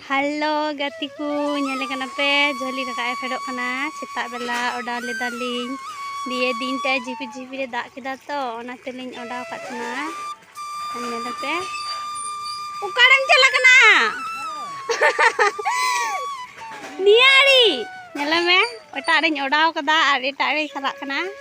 hello ᱜᱟᱛᱮ ᱠᱚ ᱧᱮᱞ ᱠᱟᱱᱟ ᱯᱮ ᱡᱷᱟᱹᱞᱤ ᱨᱟᱠᱟᱵ ᱮ ᱯᱷᱮᱰᱚᱜ ᱠᱟᱱᱟ ᱥᱮᱛᱟᱜ ᱵᱮᱞᱟ ᱚᱰᱟᱣ ᱞᱮᱫᱟᱞᱤᱧ ᱫᱤᱭᱮ ᱫᱤᱱᱴᱟ ᱡᱷᱤᱯᱤᱨ ᱡᱷᱤᱯᱤᱨ ᱮ ᱫᱟᱜ ᱠᱮᱫᱟ ᱛᱚ ᱚᱱᱟ ᱛᱮᱞᱤᱧ ᱚᱰᱟᱣ ᱠᱟᱜ ᱛᱟᱦᱮᱱᱟ ᱧᱮᱞ ᱯᱮ ᱚᱠᱟᱨᱮᱢ ᱪᱟᱞᱟᱜ ᱠᱟᱱᱟ ᱱᱤᱭᱟᱹ ᱟᱲᱮ ᱧᱮᱞ ᱢᱮ ᱮᱴᱟᱜ ᱨᱤᱧ ᱚᱰᱟᱣ ᱠᱟᱫᱟ ᱟᱨ ᱮᱴᱟᱜ ᱨᱮ ᱪᱟᱞᱟᱜ ᱠᱟᱱᱟ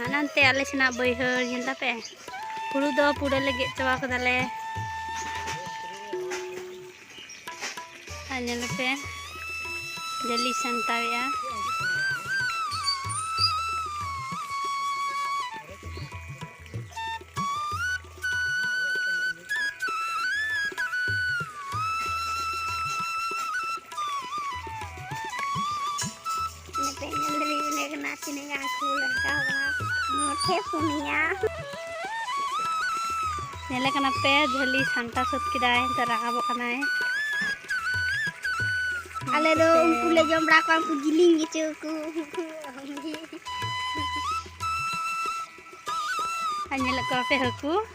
ᱦᱟᱱᱟᱱᱛᱮ ᱟᱞᱮ ᱥᱮᱱᱟᱜ ᱵᱟᱹᱭᱦᱟᱹᱲ ᱧᱮᱞ ᱛᱟᱯᱮ ᱦᱩᱲᱩ ᱫᱚ ᱯᱩᱨᱟᱹ ᱞᱮ ᱜᱮᱫ ᱪᱟᱵᱟ ᱠᱟᱫᱟᱞᱮ ᱟᱨ ᱧᱮᱞ ᱯᱮ ᱡᱟᱹᱞᱤ ᱥᱟᱢᱴᱟᱣᱮᱜᱼᱟ ᱧᱮᱞᱮ ᱠᱟᱱᱟ ᱯᱮ ᱡᱷᱟᱹᱞᱤ ᱥᱟᱢᱴᱟᱣ ᱥᱟᱹᱛ ᱠᱮᱫᱟᱭ ᱱᱤᱛᱚᱜ ᱨᱟᱠᱟᱵᱚᱜ ᱠᱟᱱᱟᱭ ᱟᱞᱮ ᱫᱚ ᱩᱱᱠᱩ ᱞᱮ ᱡᱚᱢ ᱵᱟᱲᱟ ᱠᱚᱣᱟ ᱩᱱᱠᱩ ᱡᱤᱞᱤᱧ ᱜᱮᱪᱚ ᱠᱚ ᱧᱮᱞᱮᱫ ᱠᱚᱣᱟ ᱯᱮ ᱦᱟᱹᱠᱩ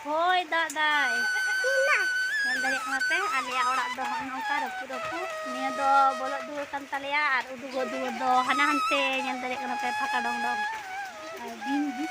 ᱦᱳᱭ ᱫᱟᱜ ᱫᱟᱭ ᱧᱮᱞ ᱫᱟᱲᱮᱭᱟᱜ ᱠᱟᱱᱟ ᱯᱮ ᱟᱞᱮᱭᱟᱜ ᱚᱲᱟᱜ ᱫᱚ ᱦᱚᱸᱜᱼᱚ ᱱᱚᱝᱠᱟ ᱨᱟᱹᱯᱩ ᱨᱟᱹᱯᱩ ᱱᱤᱭᱟᱹ ᱫᱚ ᱵᱚᱞᱚᱜ ᱫᱩᱣᱟᱹᱨ ᱠᱟᱱ ᱛᱟᱞᱮᱭᱟ ᱟᱨ ᱩᱰᱩᱠᱚᱜ ᱫᱩᱣᱟᱹᱨ ᱫᱚ ᱦᱟᱱᱟ ᱦᱟᱱᱛᱮ ᱧᱮᱞ ᱫᱟᱲᱮᱭᱟᱜ ᱠᱟᱱᱟ ᱯᱮ ᱯᱷᱟᱸᱠᱟ ᱰᱚᱝ ᱰᱚᱝ ᱟᱨ ᱵᱤᱧ ᱵᱤᱧ